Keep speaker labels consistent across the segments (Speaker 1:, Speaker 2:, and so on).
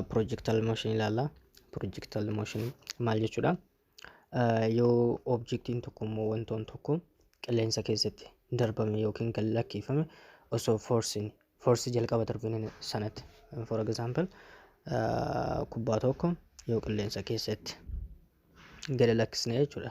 Speaker 1: Projectile motion ilaalla. Projectile motion maal jechuudha? Yoo objektiin tokko immoo wantoon tokko qilleensa keessatti darbame yookiin kan lakkiifame osoo forsiin forsi jalqaba darbine sanatti for example kubbaa tokko yoo qilleensa keessatti gadi lakkisne jechuudha.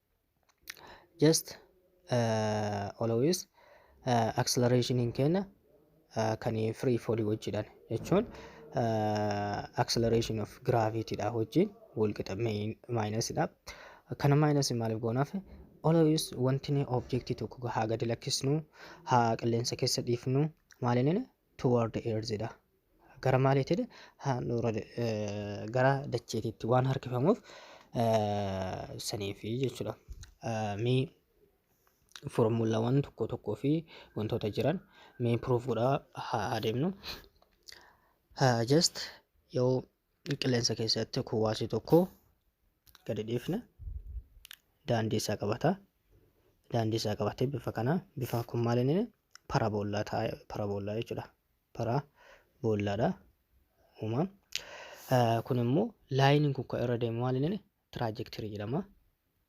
Speaker 1: just uh, always uh, acceleration hin kenna uh, kan free fall wajjidhan jechuun uh, acceleration of gravity dha wajjin walqixa minus dha kana minus maaliif goonaaf always wanti ni object tokko haa gadi lakkisnu haa qilleensa keessa dhiifnu maalinin toward the earth dha. Gara maaliitti dha? Handhuura gara dacheetiitti waan harkifamuuf saniifi jechuudha. Mee foormulawwan tokko tokkoo fi wantoota jiran mee proof godhaa haa adeemnu. Just yoo Qilleensa keessatti kuwaasi tokko gadi dhiifne daandii isaa qabata. Daandii isaa qabatee bifa kana bifa kun maal inni paraboollaa taa'e paraboollaa jechuudha. Paraboollaadha uuma. Kun immoo laayiniin kun kan irra deemu maal inni tiraajektirii jedhama.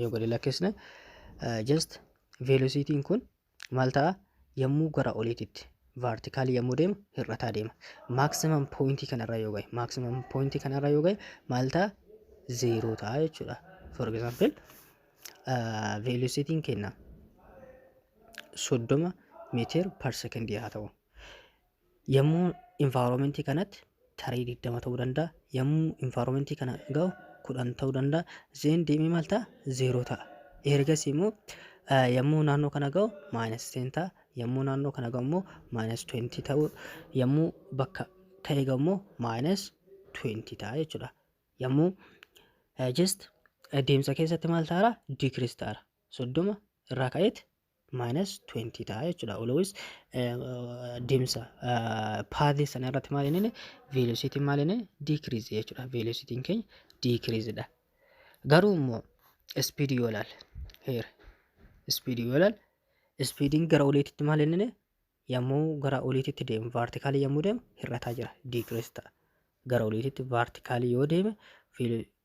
Speaker 1: yoo gadi lakkisne just velocity kun maal ta'a yommuu gara oliititti vertically yommuu deemu hir'ataa deema maximum point kanarra yoo ga'e maximum point kanarra yoo ga'e maal ta'a zero ta'a jechuudha for example uh, velocity kenna soddoma meetir per second haa ta'u Yommuu environment kanatti tarii 20 ta'uu danda'a. Yommuu environment kana ga'u 10 ta'uu danda'a. Zeen deemee maal ta'a? 0 ta'a. Ergasii immoo eh, yommuu naannoo kana ga'u minus 10 ta'a. Yommuu naannoo kana ga'u immoo minus 20 ta'uu. Yommuu bakka ta'e ga'u immoo minus 20 ta'a jechuudha. Yommuu eh, just eh, deemsa keessatti maal ta'ara? Decrease ta'ara. 30 irraa ka'eet minus 20 ta'a jechuudha. Always deemsa paadhii sana irratti maal inni velocity maal inni decrease jechuudha. Velocity keenya decrease dha. Garuu immoo speed yoo ilaal here speed yoo ilaal speediin gara oliititti maal inni yommuu gara oliititti deemu vertically yommuu deemu hir'ataa jira decrease ta'a. Gara oliititti vertically yoo deeme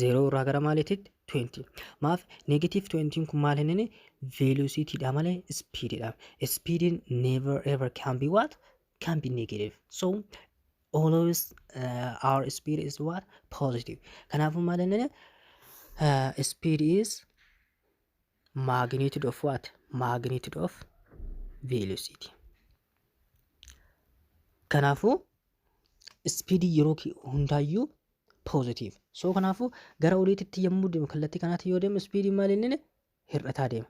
Speaker 1: zeeroo irraa gara maaliititti 20 maaf neegatiiv 20 kun maal hin inni veeloosiitiidha malee ispiididha ispiidiin never ever can be what can be negative so always uh, our speed is what positive kanaafuu maal hin inni uh, speed is Magnitude of what? Magnitude of velocity. Kanaafuu ispiidii yeroo ki- hundaayyuu positive. So kanaafuu gara oliititti yommuu deemu kallattii kanaatti yoo deemu ispiidiin maal inni hir'ataa deema.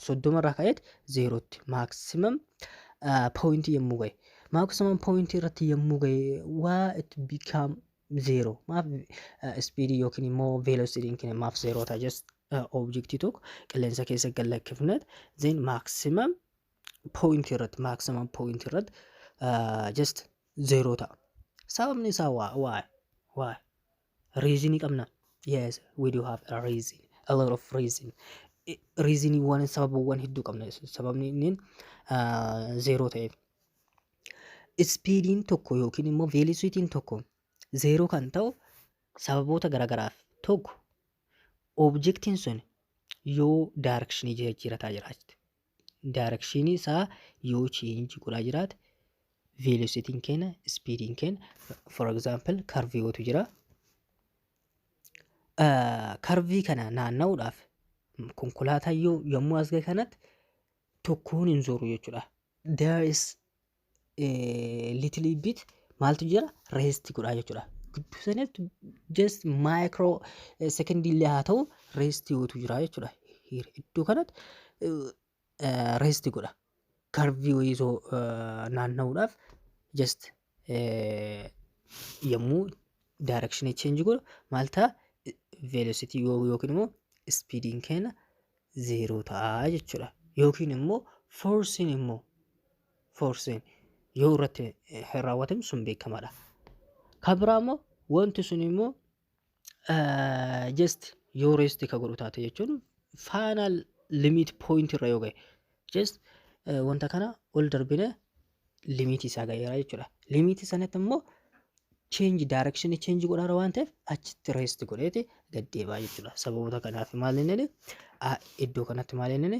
Speaker 1: Soddoma irraa ka'eet zeerootti maximum poointii yommuu ga'e. Maximum poointii irratti yommuu ga'e waa it become zero. Maaf ispiidii yookiin immoo velocity'n keenya maaf zeeroo ta'a just Objectii tokko qilleensa keessa gad lakkifnet then maximum point irratti maximum point irratti just zero ta'a. Sababni isaa waa waa waa reason qabna. Yes we do have a reason a lot of reason reasoniiwwan sababawwan hedduu qabna sababni inni zero ta'eef. Ispiidiin tokko yookiin immoo veelisitiin tokko zeeroo kan ta'u sababoota garagaraaf tokko objektiin sun yoo daarekshinii jijjiirataa jiraachite daarekshinii isaa yoo cheenji godhaa jiraate veelositiin keenya ispiidiin keenya for example karvii wootu jira karvii kana naanna'uudhaaf konkolaataa yoo yommuu as ga'e kanatti tokkoon hin zooru jechuudha there is little bit maaltu jira rest godhaa jechuudha. Gidduu sanatti just micro second illee haa ta'u rest gootu jira jechuudha. Iddoo kanatti rest godha. Karvii wayii osoo naanna'uudhaaf just yommuu direction change godhu maal ta'a velocity yookiin immoo speediin keenya zeeroo ta'a jechuudha. Yookiin immoo force'n immoo forcing yoo irratti eh, raawwatame sun beekamaadha. Kan biraa immoo wanti sun immoo eh, just yoo rest ka godhu taate jechuun final limit point irra yoo ga'e just eh, wanta kana ol darbine limit isaa ga'eera jechuudha. Limit sanatti immoo change direction change godhaara waan ta'eef achitti rest godheeti gad deebaa jechuudha. Sababoota kanaaf maal inni iddoo kanatti maal inni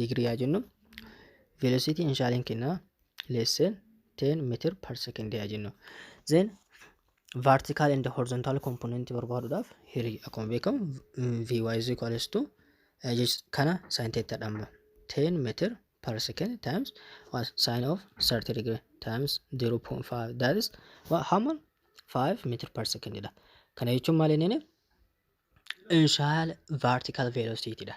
Speaker 1: digirii yaa jennu velocity initialiin kenna less than 10 meter per second yaa jennu then vertical and horizontal component barbaaduudhaaf hirii akkuma beekamu vy is equals to eh, just kana sin theta dhamma 10 meter per second times what sin of 30 degree times 0.5 that is what how much 5 meter per second dha kana jechuun maal inni initial vertical velocity dha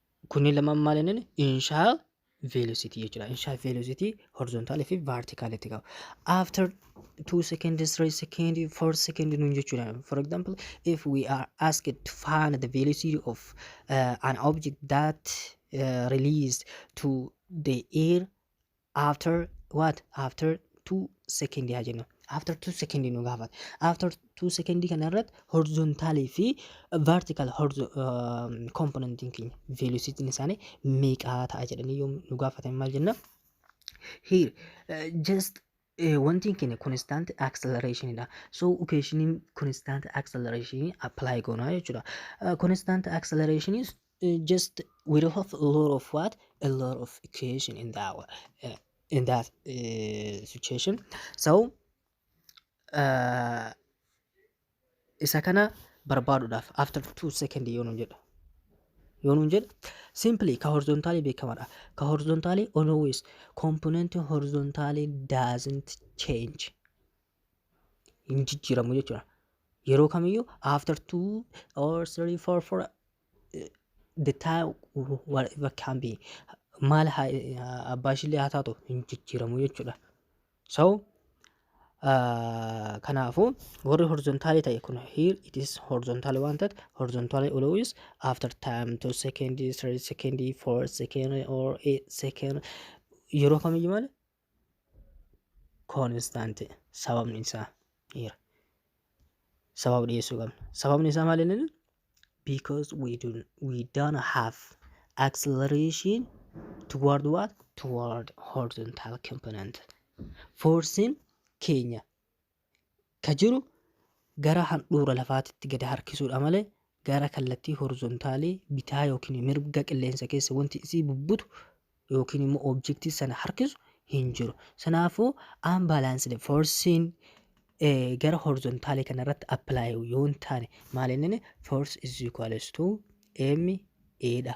Speaker 1: Kunni lamaan maal inni inshaa velocity jechuudha. Inshaa velocity horizontal fi vertical itti qaba. After 2 second, 3 second, 4 second nuun jechuudha. For example, if we are asked to find the velocity of uh, an object that uh, released to the air after what after two second haa jennu after two second nu gaafata after two second kana irratti horizontal fi vertical horizo- um, component keenya velocity isaanii meeqaa ta'a jedhanii yoo nu gaafatan maal jenna here uh, just uh, wanti keenya constant acceleration dha so equation constant acceleration apply goona jechuudha uh, constant acceleration is just we don't have a lot of what a lot of equation in that wa- uh, in that uh, situation so uh, isa kana barbaaduudhaaf after two second yoo nun jedha yoo nun jedha simply ka horizontaalii beekamadha ka horizontaalii always component horizontaalii doesn't change hin jijjiiramu jechuudha. Yeroo kamiyyuu after two or three four four eh, the time whatever can be maal haa- eh, abbaa ishiillee haa taatu hin jijjiiramu jechuudha. So Ah, kanaafuu warri horizontaali ta'e kun here it is horizontaali waan ta'eef horizontaali always after time two second three second four second or eight second yeroo kamiyyuu malee koonistaanti sababni isaa dhiira sababa dhiyeessuu qabna sababni isaa maal inni because we do we don't have acceleration toward what toward horizontal component forcing keenya ka jiru gara handhuura lafaatitti gad harkisuudha malee gara kallattii horizontaalii bitaa yookiin mirga qilleensa keessa wanti isii bubbutu yookiin immoo objektii sana harkisu hin jiru. Sanaafuu unbalanced force'n eh, gara horizontaalii kana irratti apply yoo hin taane maal inni force is equals to m a dha.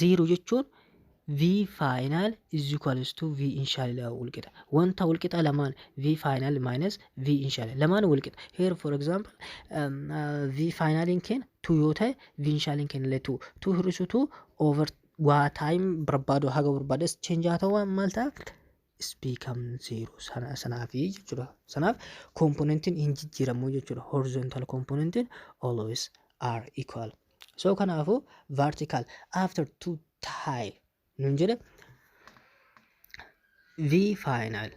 Speaker 1: 0 jechuun v final is equals to v initial dha walqixa wanta walqixa lamaan v final minus v initial lamaan walqixa here for example um, uh, v final in keenya 2 yoo ta'e v initial in keenya illee 2 2 hir'isu 2 over waa time barbaadu haga barbaades change haa ta'u maal ta'a speakam zero sana sanaafi jechuudha sanaaf komponentiin hin jijjiiramu jechuudha horizontal komponentiin always are equal so kanaafu vertical after two tile nun jedhe v final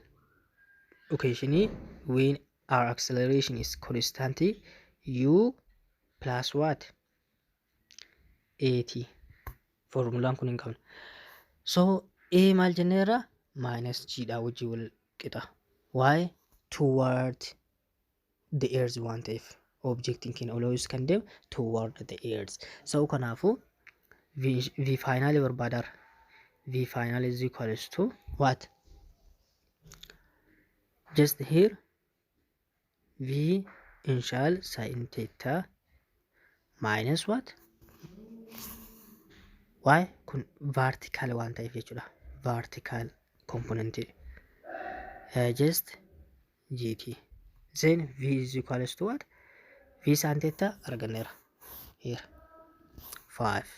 Speaker 1: location when our acceleration is constant u plus what eeti foormulaan kun hin qabne so a maal jenneerra maayinas jiidhaa wajjin wal qixa why toward the earth waan ta'eef objectiin keenya always kan deemu toward the earth so kanaafu v faayinaali barbaadaara v faayinaali is equals to what just here v inshal sin theta minus what y kun vertical waan ta'eef jechuudha vertical component uh, just gt then v is equals to what v sin theta arganneera here 5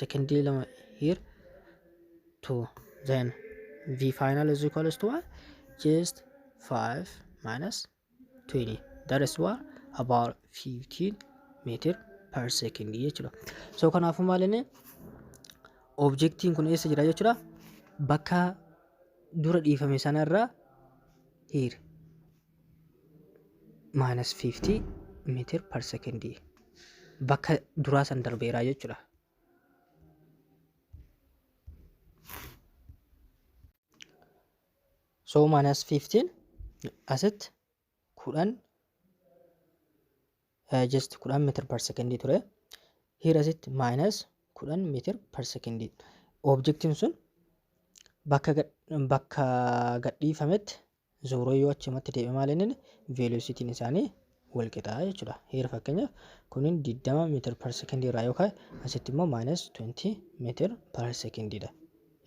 Speaker 1: secondii lama here to then v final is equals to what just 5 minus 20 that is what about 15 meter per second jechuudha so kanaafuu maal inni objektiin kun eessa jira jechuudha bakka dura dhiifame sanarra here minus 50 meter per second bakka duraa san darbeeraa jechuudha. So minus 15 asitti kudhan eh, just kudhan meter per second ture. Here asitti minus kudhan meter per second. Objectiin sun bakka gad- bakka gadhiifametti Zooroo yoo achumatti deebi'e maal inni veelositiin isaanii wal qixaa jechuudha. Heera fakkeenyaaf kunin 20 meetir per sekondii irraa yoo ka'e asitti immoo maayinas 20 meetir per sekondiidha.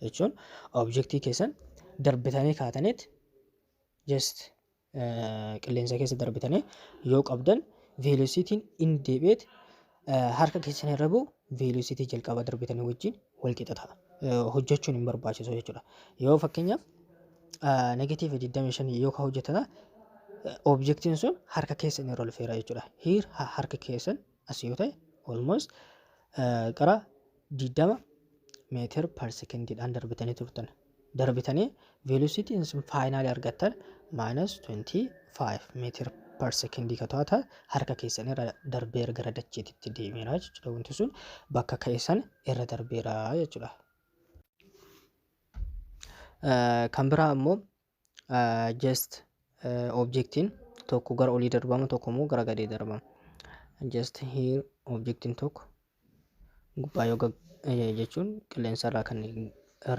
Speaker 1: Jechuun objektii keessan darbitanii kaataniit just qilleensa keessa darbitanii yoo qabdan veelositiin inni deebi'eet Harka keessan irra bu'u veelositii jalqabaa darbitanii wajjin wal qixa ta'a. Hojjechuun hin barbaachisu jechuudha. Yoo fakkeenyaaf negatiiva 25 yoo ka hojjetana objektiin sun harka keessan irra lufeera jechuudha. Hiir harka keessan as yoo ta'e almost qara 20 meetir per secondiidhaan darbitanii turtan. Darbitanii velocity isin faayinaali argattan minus 25 meetir per secondii ka to'ata harka keessan irra darbeera gara dacheetitti deemeera jechuudha. Wanti sun bakka keessan irra darbeera jechuudha. Kan biraa ammoo just objectiin tokko gara olii darbama tokko immoo gara gadii darbama just here objectiin tokko gubbaa yoo gag- eh, jechuun qilleensa irraa kan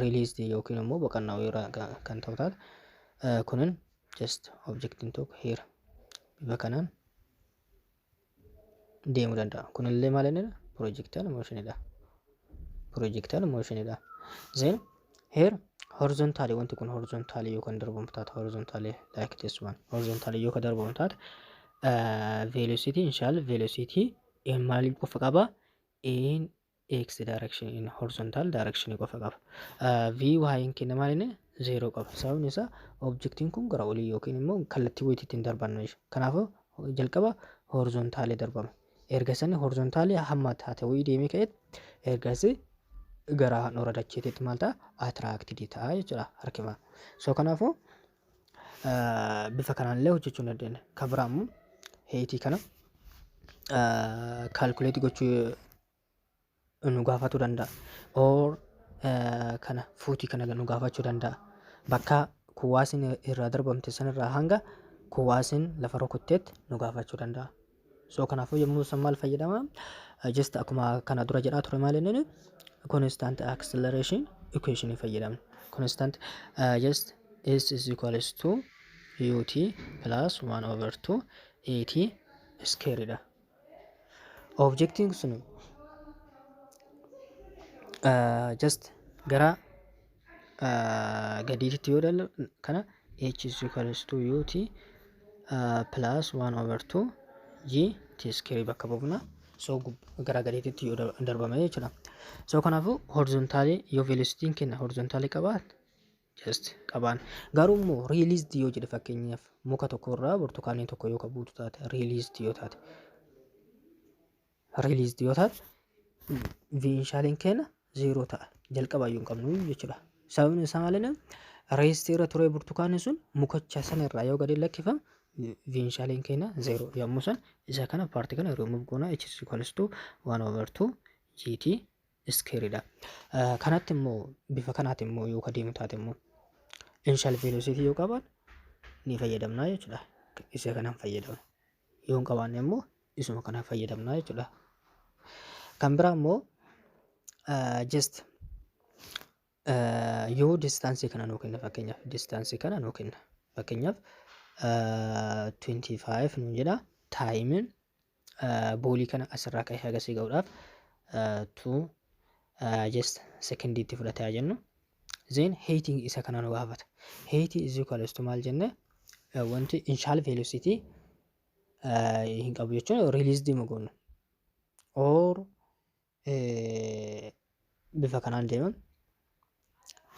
Speaker 1: released yookiin immoo boqonnaa irraa ga- kan ta'u taate eh, kunin just objectiin tokko here bifa kanaan deemuu danda'a. Kunillee maal inni projectile motion dha. Projectile motion dha. Then here horizontally wanti kun horizontally yoo kan darbamu taate horizontally like this one horizontally yoo kan darbamu taate uh, velocity inshallah velocity in maal qofa qaba in x direction in horizontal direction qofa qaba. vy hin kenne maal inni zeero qaba. Sababni isaa objektiin kun gara olii yookiin immoo kallattii wayitii ittiin darbannu jechuudha. Kanaafuu jalqaba horizontaalii darbama. Erga sani horizontaalii hamma taate wayii deemee ka'etti ergasii gara handhuura dacheetiitti maal ta'a atiraaktii ta'a jechuudha harkifama. So kanaafuu bifa kanaan illee hojjechuu ni dandeenya. Kan biraa immoo heeyitii kana kaalkuleetii gochuu nu gaafatuu danda'a. Or kana fuutii kana nu gaafachuu danda'a. Bakka kuwaasiin irraa darbamte sanirraa hanga kuwaasiin lafa rukutteetti nu gaafachuu danda'a. So kanaafuu yommuu san maal fayyadama? Just akkuma kana dura jedhaa ture maal inni constant acceleration equation hin fayyadamne. Constant uh, just s is equals to ut plus 1 over 2 at square dha. Objectiin sun uh, just gara gadiititti yoo ilaallu kana h is equals to ut plus 1 over 2 g t square bakka buufna so gara gadiititti yoo darbame jechuudha so kanaafuu horizontaalii yoo velocitiin kenna horizontaalii qabaat just qabaan garuu immoo released yoo jedhe fakkeenyaaf muka tokko irraa burtukaanii tokko yoo qabuutu taate released yoo taate released yoo taate initialin keenya zero ta'a jalqaba iyyuu hin qabnu jechuudha sababni isaa maalinni reestii irra turee burtukaanni sun mukacha sana irraa yoo gadi lakkifamu initialin keenya zero yommuu san isa kana paartii kana remove goona h is equals to 1 over 2 gt iskeeridha kanatti immoo bifa kanaati immoo yoo ka deemu taate immoo initial velocity yoo qaban ni fayyadamna jechuudha isa kanan fayyadama yoo hin qabaanne immoo isuma kana fayyadamna jechuudha. Kan biraa immoo just yoo distaansii kana nuu kenna fakkeenyaaf distaansii kana nuu kenna fakkeenyaaf 25 nuun jedha taayimiin boolii kana asirraa ka'ee hagasii ga'uudhaaf 2 just sekondiitti fudhata yaa jennu Zeen heeyitiin isa kana nu gaafata. Heeyitii is equals to maal jenne wanti inshaal veelositii hin qabu jechuun riiliis deema goonu. Or bifa kanaan deema.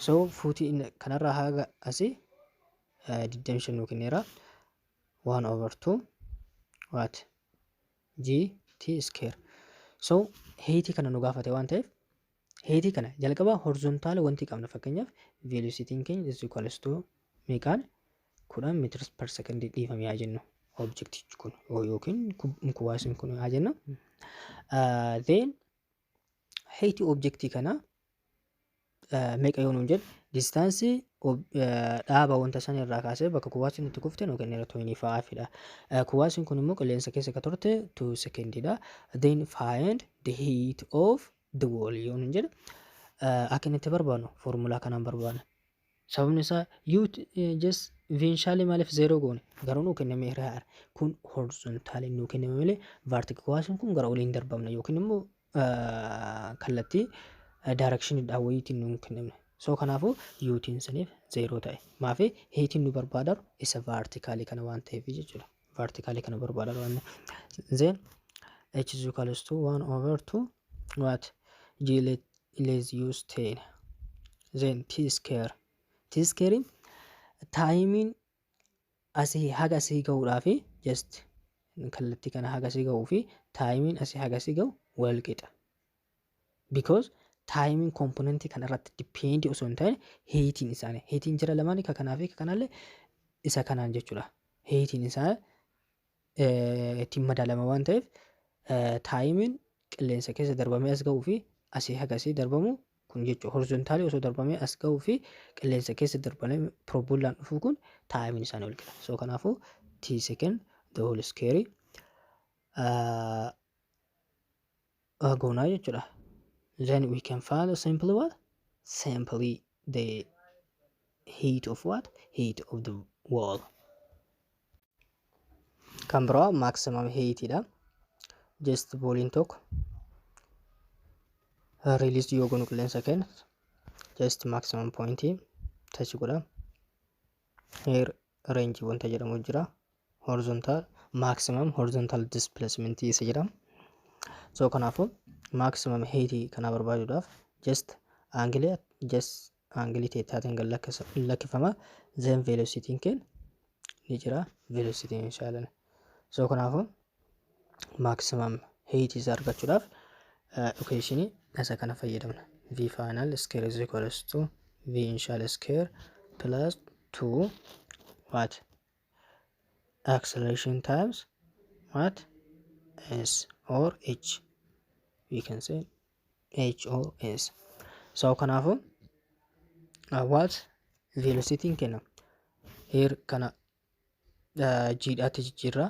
Speaker 1: So fuutii kanarraa haga asii 25 nuu kenneera. 1 over 2 what g t square. So heeyitii kana nu gaafate waan ta'eef Heetii kana jalqaba horizontaala wanti qabna fakkeenyaaf velocitiin keenya is equals to meeqaan kudhan meters per second dhiifame haa jennu objectichi kun yookiin kuwaasin kun haa jennu then heetii objectii kana meeqa yoo nuun jedhu distaansii dhaaba wanta san irraa kaasee bakka kuwaasin itti kufte nu kenneera toyinii fa'aafidha. Kuwaasin kun immoo qilleensa keessa ka turte 2 sekendiidha. Then find the heat of the wall yoo nun jedhe akka inni itti barbaadnu foormulaa kanaan barbaadna. Sababni isaa yoo jes veenshaalee maaliif zeeroo goone garuu nuu kenname irra haara kun horizontaali nuu kenname malee vaartikuwaasiin kun gara oliin darbamna yookiin immoo kallattii daarakshinidhaa wayiitiin nuu kenname. Soo kanaafuu yuutiin saniif zeeroo ta'e maafi hiitiin nu barbaadaru isa vaartikaalii kana waan ta'eef jechuudha. vertically kana barbaada qabanne then h is equal to 1 over 2 what g let let's use 10 then t square t square taayimiin asii haga asii ga'uudhaaf just kallattii kana haga asii ga'uu fi taayimiin asii haga asii ga'u wal qixa because taayimiin komponentii kana irratti dipeendi osoo hin taane heetiin isaanii heetiin jira lamaan ka kanaa fi ka kanaallee isa kanaan jechuudha heetiin isaa ittiin madaalama waan ta'eef taayimiin qilleensa keessa darbamee as ga'uu fi asii hagasii darbamu kun jechuudha horizontaalii osoo darbamee as ga'uu fi qilleensa keessa darbamee piroobulaan dhufuu kun taayimiin isaanii wal qixa soo kanaafuu tii seken the whole square uh, goonaa jechuudha then we can find simply what simply the heat of what heat of the wall kan biraa maximum heat dha just booliin tokko release yoo goonu qilleensa kenna just maximum point touch godha here range wanta jedhamu jira horizontal maximum horizontal displacement isa jedham so kanaafu maximum height kana barbaaduudhaaf just angle just angle teetaatiin gad lakkifama then velocity keen ni jira velocity inshallah so kanaafu maximum height isa argachuudhaaf equation isa kana fayyadamna v final square is equals to v initial square plus 2 what acceleration times what s or h we can say h or s so kanaafu uh, what velocity kenna air kana uh, jiidhaatti jijjiirraa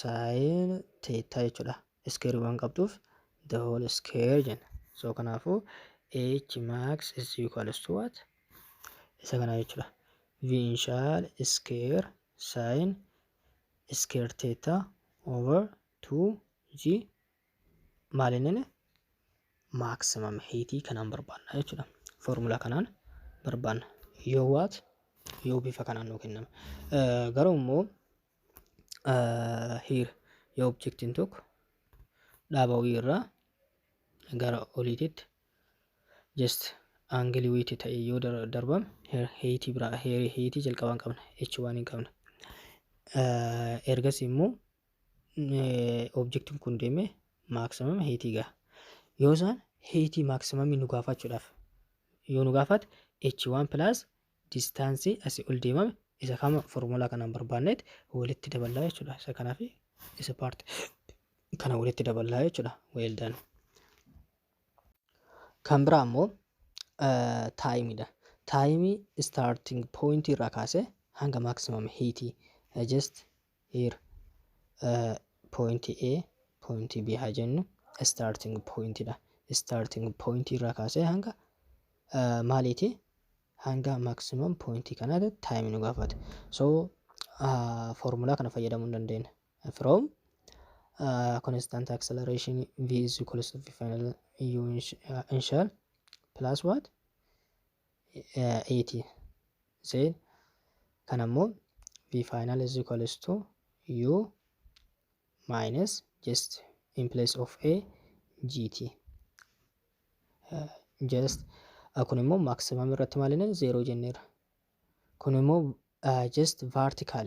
Speaker 1: saayina teettaa jechuudha. Iskeerii waan qabduuf the whole square jenna. So kanaafuu h max is equals to what? Isa kana jechuudha. V initial square sin square theta over 2g maalinni maximum heatii kanaan barbaanna jechuudha. Foormulaa kanaan barbaanna. Yoo waat yoo bifa kanaan nuu kenname. Garuu immoo hiir yoo objektiin tokko dhaaba wii irraa gara oliititti just aangilii wiitti ta'e yoo dar- darbame heer heeyitii biraa heer heeyitii jalqabaan qabna h waan hin qabna Eh, ergas immoo eh, objektiin kun deemee maaksimam heeyitii gaha yoo isaan heeyitii maaksimamii nu gaafachuudhaaf yoo nu gaafate h1 plus distance asi ol deemame isa kama formula kanaan barbaanneet walitti daballaa jechuudha isa kanaa fi isa part kana walitti daballaa jechuudha well done kan biraa immoo taayimiidha taayimii starting point irraa kaasee hanga maximum hiitii just here point A point B haa jennu starting point dha starting point irraa kaasee hanga maaliiti hanga maximum point kanaati time nu gaafata so formulaa kana fayyadamuu hin dandeenya from uh, constant acceleration v is equals to v final u initial plus what 80 zeen kan ammoo v final is equals to u minus just in place of a gt uh, just uh, kun immoo maximum irratti maalinaan 0 jenneera kun immoo uh, just vertical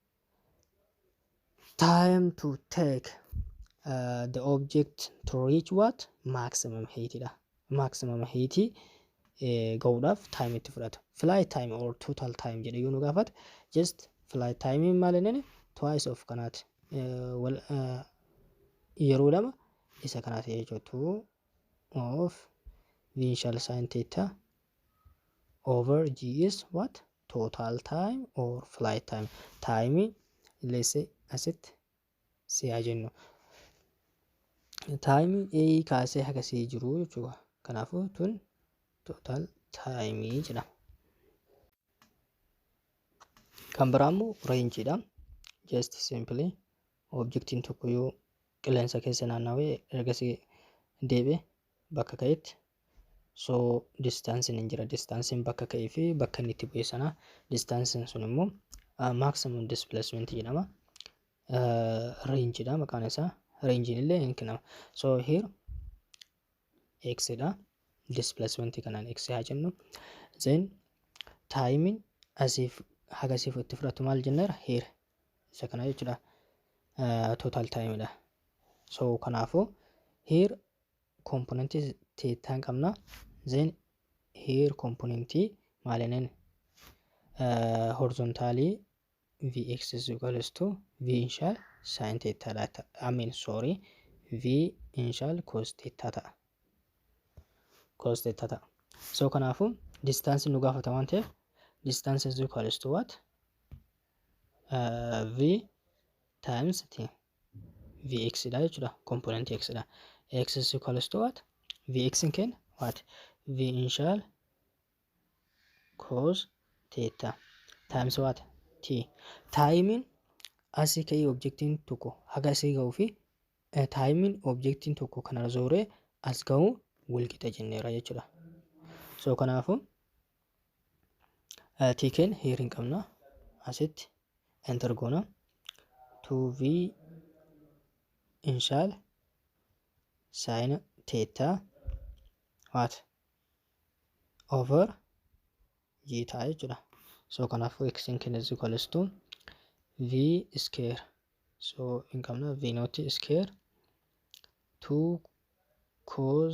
Speaker 1: time to take uh, the object to reach what maximum height dha maximum height eh, ga'uudhaaf time itti fudhata flight time or total time jedhe yoo nu gaafate just flight time maal inni twice of kanaati Eh, wal eh, yeroo lama isa kanaati jechuudha two of initial sin theta over g is what total time or flight time time let's say asitti si haa jennu time a kaasee haga si jiru jechuudha kanaafuu tun total time jedhama kan biraa immoo range dha just simply objectiin tokko yoo qilleensa keessa naannawee ergasii deebi'e bakka ka'etti So distaansiin hin jira. Distaansiin bakka ka'ee fi bakka inni itti bu'e sana distaansiin sun immoo maximum displacement jedhama. Range dha maqaan isaa. Range illee hin kennama. So here x dha. Displacement kanaan x haa jennu. Then time asiif hagasiif itti fudhatu maal jenneera here. Isa kana jechuudha. Total time dha. So kanaafuu here component teettaan qabna then here component maalinen horizontally vx is equals to v initial sin teettaa dha ta- I mean sorry v initial cos teettaa ta'a cos teettaa ta'a so kanaafu distance nu gaafata waan ta'eef distance is equals to what uh, v times t vx dha jechuudha component x dha x is equals to what vx in keenya what v initial cos theta times what t taayimiin asii ka'ee objektiin tokko haga asii ga'uu fi taayimiin objektiin tokko kanarra zooree as ga'uu walqixa jenneera jechuudha so kanaafuu Tiikeen heer hin qabna. Asitti enter goona. 2v inshaal saayina teettaa waat over jiitaa jechuudha. So kanaafuu x hin kenna is equals to v square. So hin qabna v not square 2 cos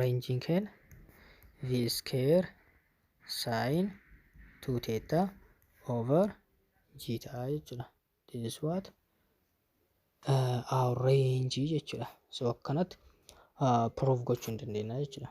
Speaker 1: Reenjiin keenya v square sin 2 theta over g ta'a jechuudha. This is what uh, our range jechuudha. So akkanatti uh, proof gochuu hin dandeenya jechuudha.